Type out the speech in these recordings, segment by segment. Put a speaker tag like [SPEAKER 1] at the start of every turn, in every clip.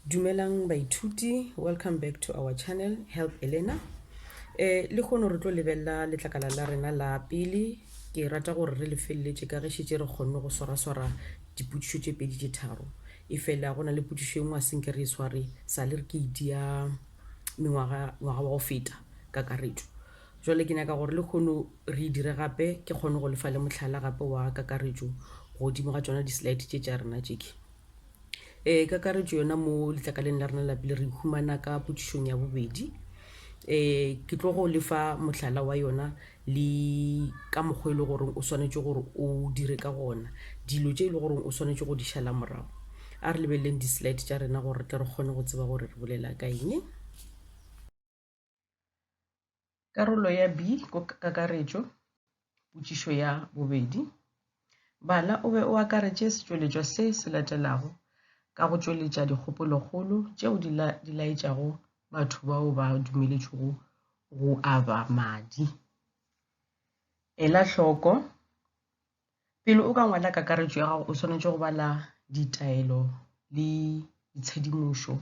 [SPEAKER 1] Dumelang baithuti, welcome back to our channel Help Elena. Eh le khono re tlo lebella letlakala la rena la pele. Ke rata gore re le felletše ka ge šitše re khonne go swara swara dipotšišo tše pedi tše tharo. E fela go na le potšišo e nngwe a senke re e sware sa le re ke itia mengwaga ngwaga wa go feta ka karetšo. Bjale ke nyaka gore lekhono re e dire gape, ke kgone go le fa le mohlala gape wa kakaretšo godimo ga tšona di-slide tše tša rena tšeke. Ee, kakaretšo yona mo letlakaleng la rena la pele re humana ka potšišong ya bobedi. Ee, ke tlo go le fa mohlala wa yona le ka mokgwa e le gore o swanetše gore o dire ka gona, dilo tše e le gore o swanetše go di šala morago. A re lebeleleng di-slide tša rena gore re tle re kgone go tseba gore re bolela ka eng. Karolo ya B ko kakaretšo, potšišo ya bobedi. Bala o be o akaretše setšweletšwa se se latelago ka go tšweletša dikgopolokgolo tšeo di, la, di laetšago batho bao ba dumeletšwego go aba madi. Ela hloko Pele o ka ngwala kakaretšo ya gago o swanetše go bala ditaelo le ditshedimošo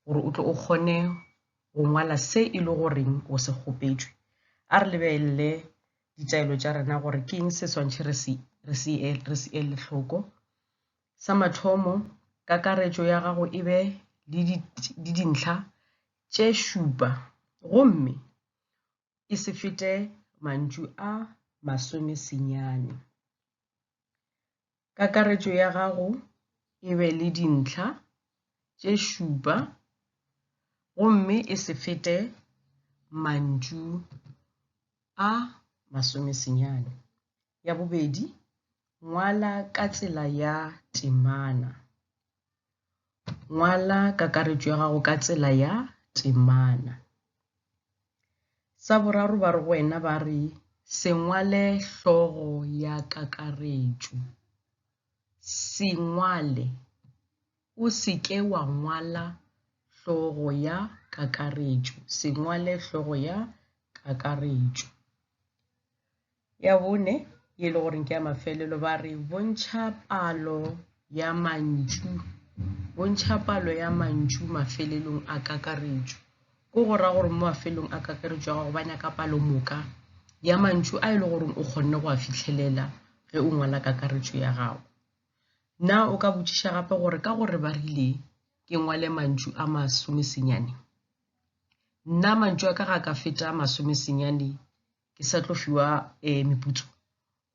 [SPEAKER 1] gore o tle o kgone go ngwala se e le goreng o se kgopetšwe. A re lebelele ditaelo tša rena gore ke eng se swantšhe re se re se re se ele hloko. Sa mathomo kakaretšo ya gago e be le dintlha tše šupa gomme e se fete mantšu a masome senyane. Kakaretšo ya gago e be le dintlha tše šupa gomme e se fete mantšu a masome senyane. Ya bobedi, ngwala ka tsela ya temana. Ngwala kakaretšo ya gago ka tsela ya temana. Sa boraro ba re go wena ba re se ngwale hlogo ya kakaretšo. Se ngwale. O se ke wa ngwala hlogo ya kakaretšo. Se ngwale hlogo ya kakaretšo. Ya bone, ye e le goreng ke ya mafelelo, ba re bontšha palo ya mantšu. Bontšha palo ya mantšu mafelelong a kakaretšo. Ko go ra gore mo mafelelong a kakaretšo ya gago ba nyaka palo moka ya mantšu a e le goreng o kgonne go a fitlhelela ge o ngwala kakaretšo ya gago. Na o ka botšiša gape gore ka gore ba rile ke ngwale mantšu a masomesenyane, nna mantšu a ka ga ka feta masomesenyane ke sa tlo fiwa um meputso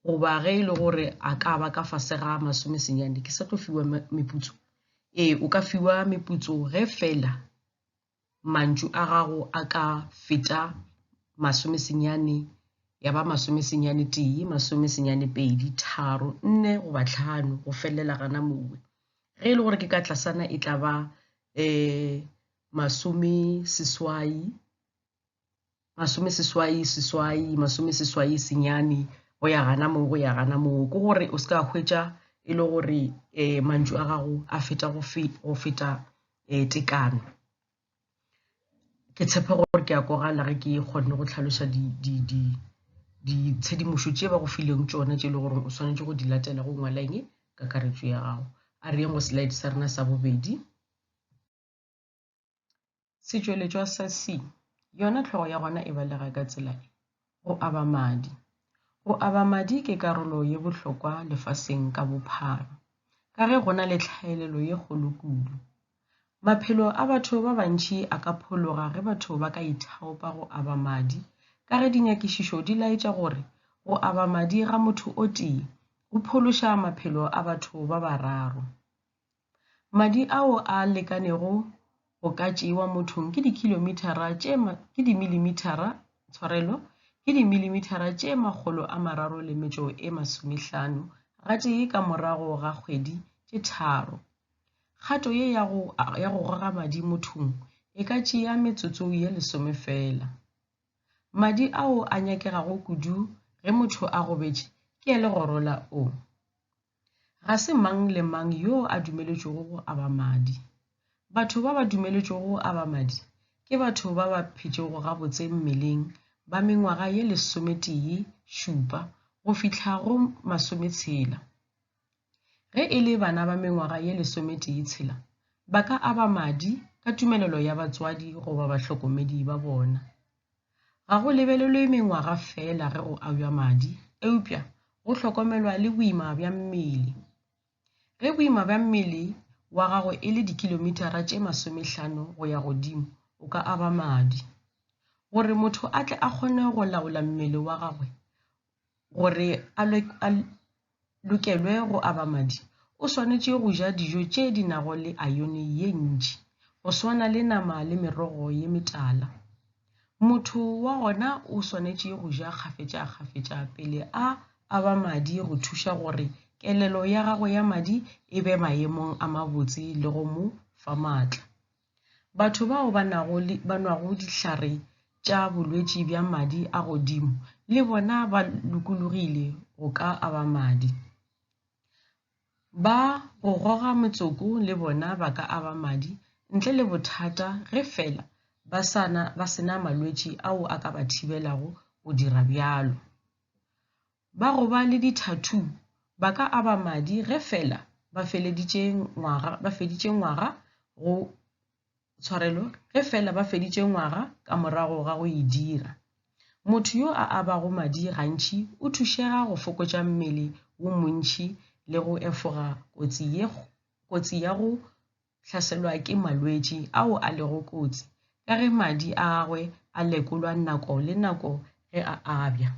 [SPEAKER 1] goba ge e le gore a ka ba ka fase ga masome senyane ke sa tlo fiwa meputso ee o ka fiwa meputso ge fela mantšu a gago a ka feta masome senyane ya ba masome senyane tee masome senyane pedi tharo nne goba tlhano go felela gana mowe ge e le gore ke ka tlasana e tla ba um masome seswai masome seswai seswai masome seswai senyane go ya gana moo go ya gana moo ke gore o se ka hwetša e le gore um mantšu a gago a feta go feta um tekano ke tshepe gore ke a kwagala ge ke kgonne go tlhalosa ditshedimošo tše ba go fileng tšona tše e le gore o swanetše go di latela go ngwala eng kakaretšo ya gago a re yeng go slide sa rena sa bobedi Setšweletšwa sa C, yona tlhogo ya gona e balega ka tsela e, go aba madi. Go aba madi ke karolo ye bohlokwa lefaseng ka bophara, ka ge go na le tlhaelelo ye kgolo kudu. Maphelo a batho ba bantši a ka phologa ge batho ba ka ithaopa go aba madi, ka ge dinyakišišo di laetša gore go aba madi ga motho o tee go phološa maphelo a batho ba bararo. Madi ao a lekanego go ka tšewa mothong ke dikilomithara tše ke dimilimitara tshwarelo ke dimilimitara tše makgolo a mararo le metšo e masomehlano gatee ka morago ga kgwedi tše tharo. Kgato ye ya go, ya go goga madi mothong e ka tšea metsotso ye lesome feela. Madi ao a nyakegago kudu ge motho a gobetše ke a legoro la O. Ga se mang le mang yo a dumeletšwego go aba madi. Batho ba ba dumeletšwego go aba madi ke batho ba ba phetšego gabotse mmeleng ba mengwaga ye lesometee šupa go fihla go masometshela. Ge e le bana ba mengwaga ye lesometee tshela, ba ka aba madi ka tumelelo ya batswadi goba bahlokomedi ba bona. Ga go lebelelwe mengwaga feela ge go abjwa madi, eupša go hlokomelwa le boima bja mmele. Ge boima bja mmele wa gago e le dikilomithara tše masomehlano go ya godimo, o ka aba madi. Gore motho a tle a kgone go laola mmele wa gagwe, Gore a lokelwe go aba madi, o swanetše go ja dijo tše di nago le ayone ye ntši, go swana le nama le merogo ye metala. Motho wa gona o swanetše go ja kgafetšakgafetša pele a aba madi go thuša gore kelelo ya gagwe ya madi e be maemong a mabotse le go mo fa maatla. Batho bao ba nago le ba nwago dihlare tša bolwetši bja madi a godimo le bona ba lokologile go ka aba madi. Ba go goga metsoko le bona ba ka aba madi ntle le bothata ge feela ba sa na ba se na malwetši ao a ka ba thibelago go dira bjalo. Ba go ba le di-tattoo ba ka aba madi ge feela ba feleditše ngwaga, ba feditše ngwaga go tshwarelo ge feela ba feditše ngwaga ka morago ga go e dira. Motho yo a abago madi gantši o thušega go fokotša mmele wo montši le go efoga kotsi ye kotsi ya go hlaselwa ke malwetši ao a lego kotsi ka ge madi a gagwe a lekolwa nako le nako ge a abja.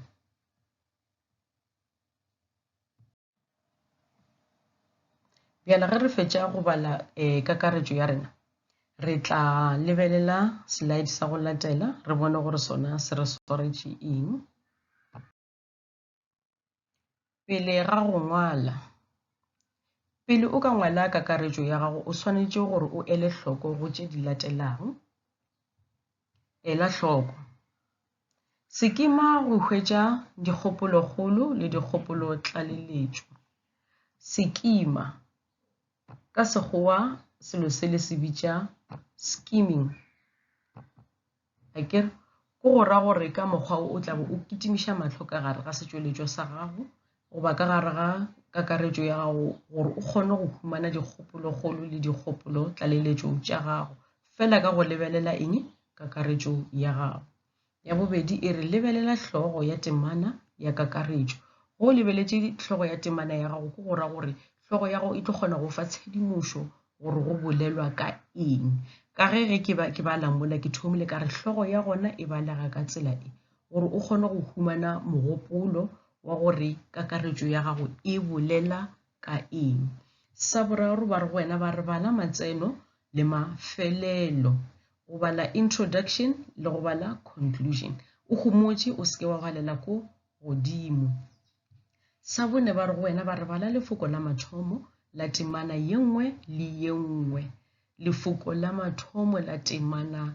[SPEAKER 1] Bjale ge re fetša go bala e, kakaretšo ya rena, re tla lebelela slide sa go latela re bone gore sona se re swaretše eng. Pele ga go ngwala, pele o ka ngwala kakaretšo ya gago o swanetše gore o ele hloko go tše di latelago. Ela hloko, Se kima go hwetša dikgopolokgolo le dikgopolotlaleletšo. Se kima, ka Sekgowa selo se le se bitša skimming, a ke re, ke go ra gore ka mokgwa wo o tla bo o kitimiša mahlo ka gare ga setšweletšwa sa gago goba ka gare ga kakaretšo ya gago gore o kgone go humana dikgopolokgolo le dikgopolo tlaleletšo tša gago fela ka go lebelela eng kakaretšo ya gago. Ya bobedi e re lebelela hlogo ya temana ya kakaretšo. Go o lebeletše hlogo ya temana ya gago ke go ra gore hlogo ya gago e tlo kgona go fa tshedimošo gore go bolelwa ka eng. Ka ge ge ke ba ke ba lamola ke thomile ka re hlogo ya gona e balega ka tsela e. gore o kgone go humana mogopolo wa gore kakaretšo ya gago e bolela ka eng. Sa boraro ba re go wena ba re bala matseno le mafelelo, go bala introduction le go bala conclusion. O homotše o seke wa galela ko godimo. Sa bone ba re go wena ba re bala lefoko la mathomo la temana ye nngwe le ye nngwe. Lefoko la mathomo la temana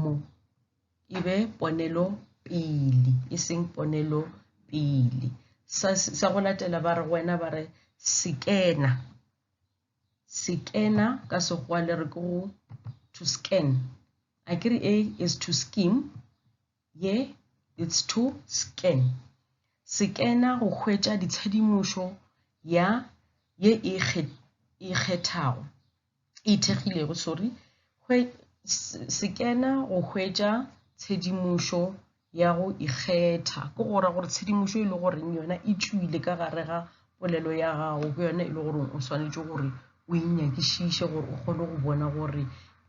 [SPEAKER 1] mo e be ponelo pele e seng ponelo pele sa, sa go latela ba re go wena ba re sekena sekena ka sekgowa le re ke go to scan a ke re a is to skim Ye it's to scan. Sekena go hwetša ditshedimošo ya ye e ikgethago, e ithekgilego, sorry, sekena go hwetša tshedimošo ya go ikgetha ke go ra gore tshedimošo e le goreng yona e tšwile ka gare ga polelo ya gago ke yona e le goreng o swanetše gore o e nyakišiše gore o kgone go bona gore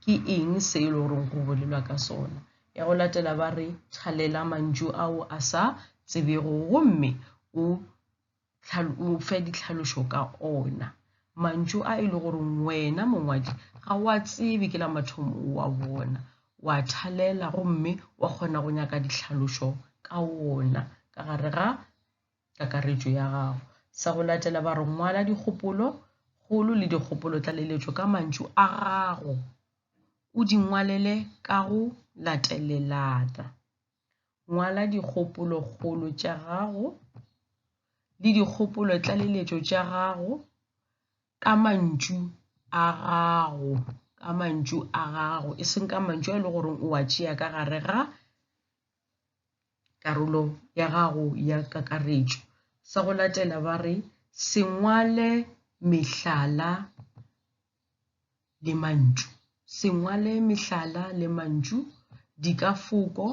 [SPEAKER 1] ke eng se e le goreng go bolelwa ka sona ya go latela ba re thalela mantšu ao a sa tsebego gomme o o fe ditlhalošo ka ona mantšu a e le gore wena mongwadi ga wa tsebe ke la mathomo wa bona wa thalela gomme wa kgona go nyaka ditlhalošo ka ona ka gare ga kakaretšo ya gago sa go latela ba re ngwala dikgopolo kgolo le dikgopolo tlaleletšo ka mantšu a gago o di ngwalele ka go latelelana. Ngwala dikgopolokgolo tša gago le dikgopolotlaleletšo tša gago ka mantšu a gago, ka mantšu a gago, e seng ka mantšu a e le goreng o a tšea ka gare ga karolo ya gago ya kakaretšo. Sa go latela ba re se ngwale mehlala le mantšu. Se ngwale mehlala le mantšu dikafoko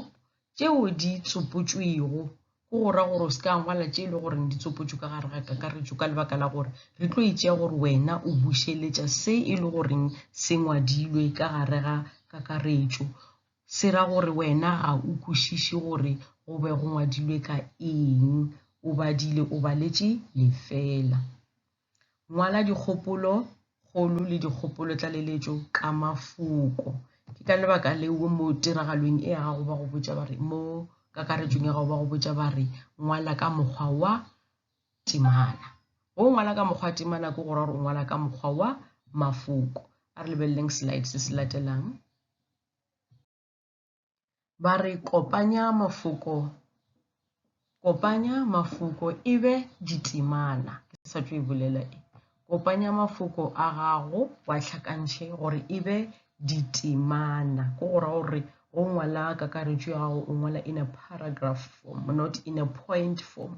[SPEAKER 1] tšeo di tsopotšwego go go ra gore o se ka ngwala tše e le gore di tsopotšwe ka gare ga kakaretšo ka lebaka la gore re tlo itšea gore wena o bušeletša se e le goreng se ngwadilwe ka gare ga kakaretšo. Se ra gore wena ga o kwešiše gore go be go ngwadilwe ka eng, o badile o baletše lefela. Ngwala dikgopolo kgolo le dikgopolo tlaleletšo ka mafoko. Ke ka lebaka leo mo tiragalong e ya gago ba go botša ba re, mo kakaretšong ya gago ba go botša ba re ngwala ka mokgwa wa temana. Go ngwala ka mokgwa wa temana ke go ra gore o ngwala ka mokgwa wa mafoko. A re lebeleleng slide se se latelang. Ba re kopanya mafoko kopanya mafoko e be ditemana ke sa tšo e bolela e kopanya mafoko a gago wa tlhakantšhe gore e be ditemana ko go ra gore go ngwala kakaretšo ya gago o ngwala in a paragraph form not in a point form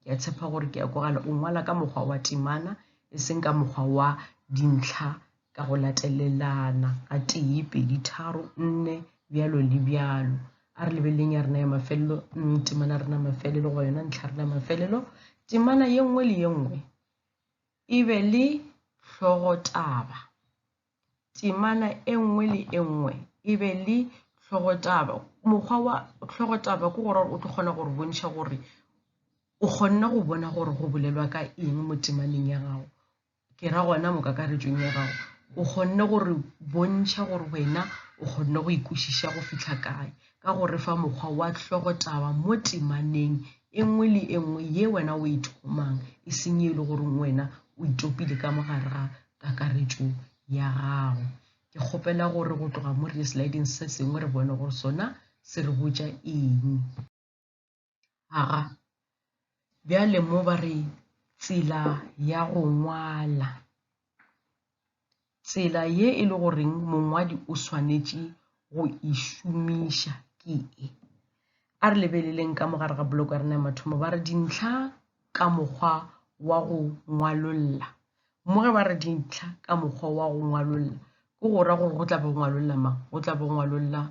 [SPEAKER 1] Ke a tshepa gore ke a kwagala. O ngwala ka mokgwa wa temana, e seng ka mokgwa wa dintlha ka go latelelana ga tee, pedi, tharo, nne, bjalo le bjalo. A re lebeleleng ya rena ya mafelelo, mm, temana rena mafelelo, goba yona ntlha rena mafelelo. Temana ye nngwe le ye nngwe e be le hlogotaba. temana e nngwe le e nngwe e be le tlhogotaba. Mokgwa wa tlhogotaba ke gore o tlo kgona gore bontšha gore o kgonne go bona gore go bolelwa ka eng mo temaneng ya gago, ke ra gona mo kakaretšong ya gago. O kgonne gore bontšha gore wena o kgonne go ikwešiša go fitlha kae ka go re fa mokgwa wa tlhogotaba mo temaneng e nngwe le e nngwe ye wena o e thomang, e seng e le goreng wena o itopile ka mo gare ga kakaretšo ya gago. Ke kgopela gore go tloga mo re ye sliding se sengwe re bone gore sona se re botša eng. Aga, bjale mo ba re tsela ya go ngwala. Tsela ye e le goreng mongwadi o swanetše go e šomiša ke e. A re lebeleleng ka mogare ga boloko ya rena ya mathomo ba re dintlha ka mokgwa wa go ngwalolla. Mo ge ba re dintlha ka mokgwa wa go ngwalolla, ke go ra gore go tla be go ngwalolla mang? Go tla be go ngwalolla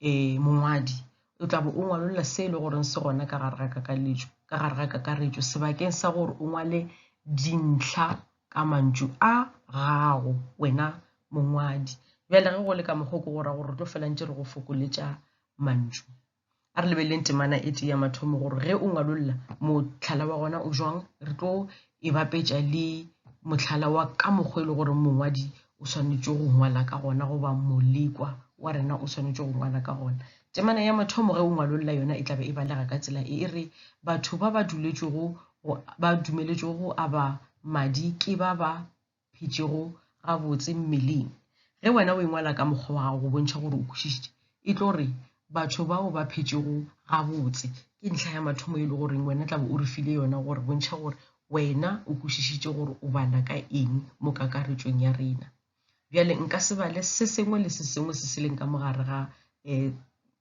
[SPEAKER 1] um mongwadi. O tla be o ngwalolla se e le goreng se gona ka gare ga kakaletšo, ka gare ga kakaretšo sebakeng sa gore o ngwale dintlha ka mantšu a gago wena mongwadi. Bjale ge go le ka mokgwa o, ke go ra gore re tlo fela ntše re go fokoletša mantšu. a re lebeleleng temana e tee ya mathomo gore ge o ngwalolla mohlala wa gona o jwang re tlo e bapetša le mohlala wa ka mokgwa e le gore mongwadi o swanetše go ngwala ka gona goba molekwa wa rena o swanetše go ngwala ka gona temana ya mathomo ge o ngwalolla yona e tlabe e balega ka tsela e e re batho ba ba duletšego ba dumeletšego go aba madi ke ba ba phetšego gabotse mmeleng. Ge wena o e ngwala ka mokgwa wa gago go bontšha gore o kwešišitše, e tlo re, Batho bao ba phetšego gabotse. Ke ntlha ya mathomo e le goreng wena tlabe o re file yona gore bontšha gore wena o kwešišitše gore o bala ka eng mo kakaretšong ya rena. Bjale nka se bale se sengwe le se sengwe se se leng ka mogare ga um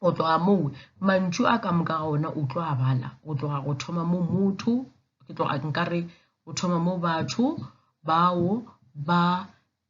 [SPEAKER 1] go tloga moo mantšu a ka moka ga ona o tlo a bala go tloga go thoma mo motho ke tloga nkare go thoma mo batho bao ba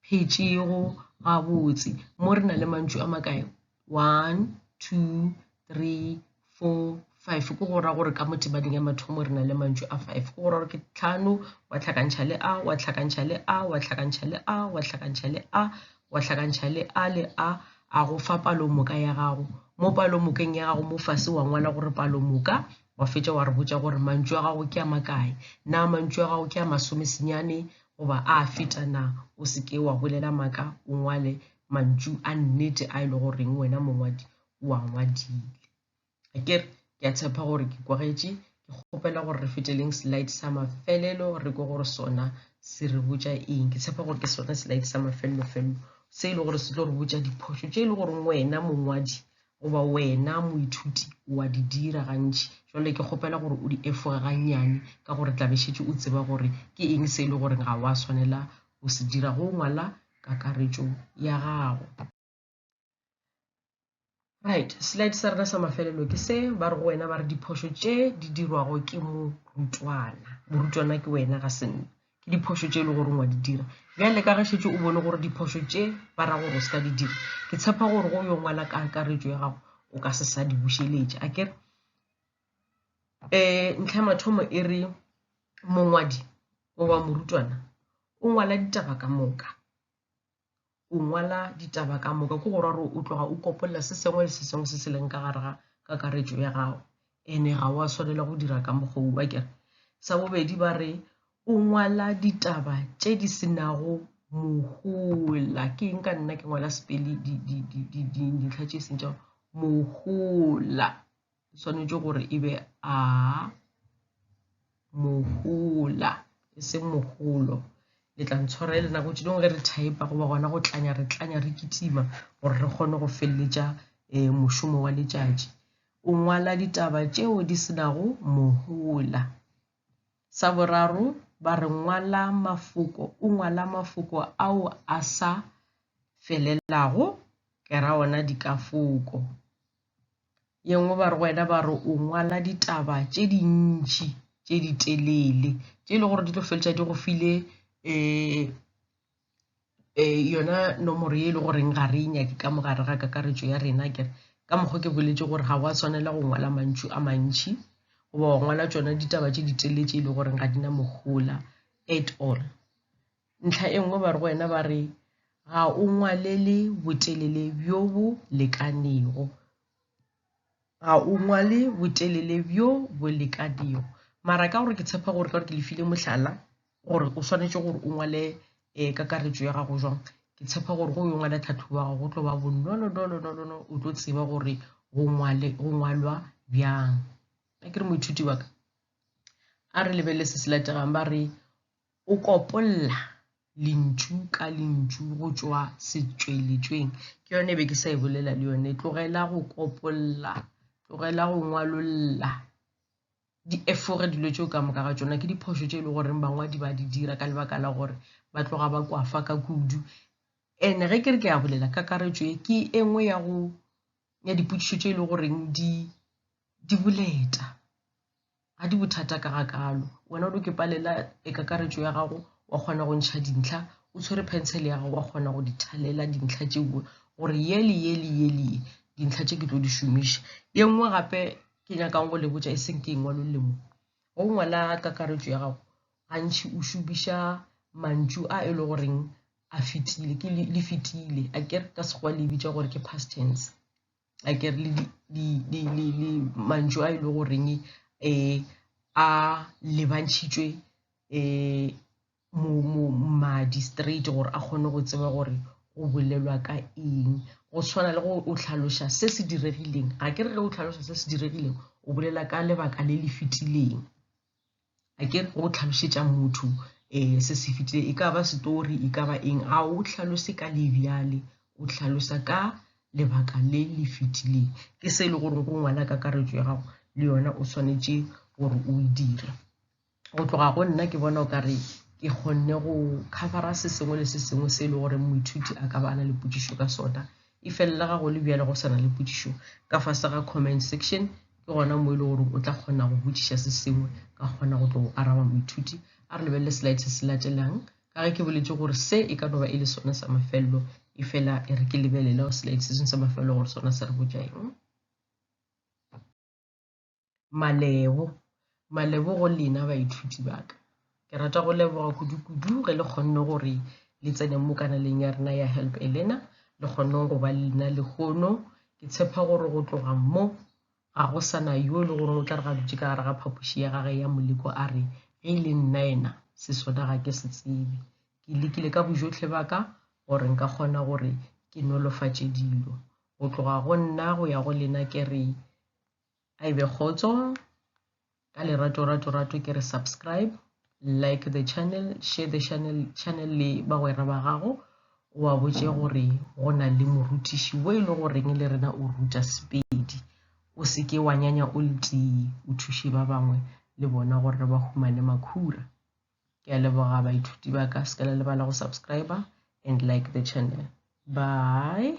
[SPEAKER 1] phetšego gabotse mo re na le mantšu a makae one two three four five ke go ra gore ka motebaneng ya mathomo re na le mantšu a five ke go ra gore ke tlhano wa tlhakantšha le a wa tlhakantšha le a wa tlhakantšha le a wa tlhakantšha le a wa hlakantšha le a le a a go fa palomoka ya gago. Mo palomokeng ya gago mo fase wa ngwala gore palomoka, wa fetša wa re botša gore mantšu a gago ke a makae. Na mantšu a gago ke a masome senyane goba a a feta na? O se ke wa bolela maaka, o ngwale mantšu a nnete a e le goreng wena mongwadi o a ngwadile. ke re ke a tshepa gore ke kwagetše ke kgopela gore re feteleng slide sa mafelelo re ko gore sona se re botša eng ke tshepa gore ke sona slide sa mafelelo felelo se e le gore se tlo re botša diphošo tše e le gore wena mongwadi goba wena moithuti wa di dira gantši jale ke kgopela gore o di efoge gannyane ka gore tlabešetše o tseba gore ke eng se e le gore ga wa swanela go se dira go ngwala kakaretšo ya gago right slide sa rena sa mafelelo ke se ba re go wena ba re diphošo tše di dirwago ke morutwana morutwana ke wena ga se nna ke diphošo tše e le gore ngwa di dira bjale ka ge šetse o bone gore diphošo tše ba ra gore o se ka di dira ke tshepa gore go yo ngwala ka akaretšo ya gago o ka se sa di bušeletša a kere um ntlha ya mathomo e re mongwadi goba morutwana o ngwala ditaba ka moka go ngwala ditaba ka moka ke go ra gore o tloga o kopolela se sengwe le se sengwe se se leng ka gare ga kakaretšo ya gago ene ga wa swanela go dira ka mokgoo wa kere sa bobedi ba re o ngwala ditaba tše di se nago mohola ke eng ka nna ke ngwala sepele dintlha tše seng tša mohola e swanetše gore e be a mohola e seng mogolo le tla ntshwara e le nako tše dingwe ge re thaepa goba gona go tlanya re tlanya re kitima gore re kgone go feleletša um mošomo wa letšatši o ngwala ditaba tšeo di senago mohola sa boraro ba re ngwala mafoko o ngwala mafoko ao a sa felelago ke ra ona dikafoko Yengwe ba re wena ba re o ngwala ditaba tše dintši tše di telele tše e le gore di tlo feletša di go file um yona nomoro ye e le goreng ga re e nyake ka mogare ga kakaretšo ya rena kere ka mokgwa ke boletše gore ga wa tshwanela go ngwala mantšu a mantši goba wa ngwala tsona ditaba tše di telele tše e le goreng ga di na mohola at all Ntlha e nngwe ba re go wena ba re, Ga o ngwalele botelele bjo bo lekanego. Ga o ngwale botelele bjo bo lekanego. Mara ka gore ke tshepa gore ka gore ke le file mohlala gore o swanetše gore o ngwale um kakaretšo ya gago jwang, ke tshepa gore go yo ngwala tlhatlhobo ya gago go tlo ba bonolonolonolono o tlo tseba gore go ngwalwa bjang. A ke re moithuti wa ka, a re lebelele se se lategang ba re, O kopolla lentšu ka lentšu go tšwa setšweletšweng. Ke yone e be ke sa e bolela le yone. Tlogela go kopolla, tlogela go ngwalolla, di efoge dilo tšeo ka moka ga tšona ke diphošo tše e le goreng bangwadi ba di dira ka lebaka la gore ba tloga ba kwafa ka kudu ene ge ke re ke ya bolela kakaretšo e ke e nngwe ya go ya dipotšišo tše e le goreng di di boleta ga di bothata ka ga kalo wena o do ke palela e kakaretšo ya gago wa kgona go ntšha dintlha o tshwere pencil ya gago wa kgona go di thalela dintlha tše nngwe gore ye le ye le ye le ye dintlha tše ke tlo di šomiša ye nngwe gape ke nyakang go le botša e seng ke e ngwalo lemo go ngwala kakaretšo ya gago gantši o šomiša mantšu a e le goreng a fetile ke le fetile a ke ka sekgwa le bitša gore ke past tense a ke re le mantšu a e le goreng um a lebantšhitšwe um madi straight gore a kgone go tseba gore go bolelwa ka eng go tshwana le go o tlhaloša se se diregileng ga ke re ge o tlhaloša se se diregileng o bolela ka lebaka le le fetileng a ke go tlhalosetša motho um se se fitileng e ka ba setori e ka ba eng ga o tlhalose ka le bjale o tlhalosa ka lebaka le le fitileng ke se e le gore go ngwala kakaretšo ya gago le yona o swanetše gore o e dire go tloga go nna ke bona o ka re ke kgonne go covera se sengwe le se sengwe se e le gore moithuti a ka ba a na le potšišo ka sona Efelela ga go le bjale go sa na le potšišo ka fase ga comment section, ke gona mo e le gore o tla kgona go botšiša se sengwe ka kgona go tlo go araba moithuti. A re lebelele slide se se latelang ka ge ke boletše gore se e ka no ba e le sone sa mafelelo e fela e re ke lebelele slide se sengwe sa mafelelo gore sona se re botša eng. Malebo. Malebo go lena baithuti ba ka. Ke rata go leboga kudu-kudu ge le kgonne gore le tsene mo kanaleng ya rena ya Help a Learner, le kgonneng go ba lena lehono. Ke tshepa gore go tloga mo ga go sana yo e le goreng o tla re ga dutse ka gare ga phapoši ya gage ya moleko a re ge e le nna ena se sona ga ke se tsebe. Ke lekile ka bojotlhe ba ka gore nka kgona gore ke nolofatše dilo. Go tloga go nna go ya go lena ke re a e be kgotso ka lerato rato rato ke re subscribe like the channel share the channel channel le bagwera ba gago o a botse gore go na le morutiši wo e le goreng le rena o ruta sepedi o se ke wa nyanya o letii o thuše ba bangwe le bona gore ba humane makhura ke a leboga baithuti ba ka se ka la lebala go subscriber and like the channel bye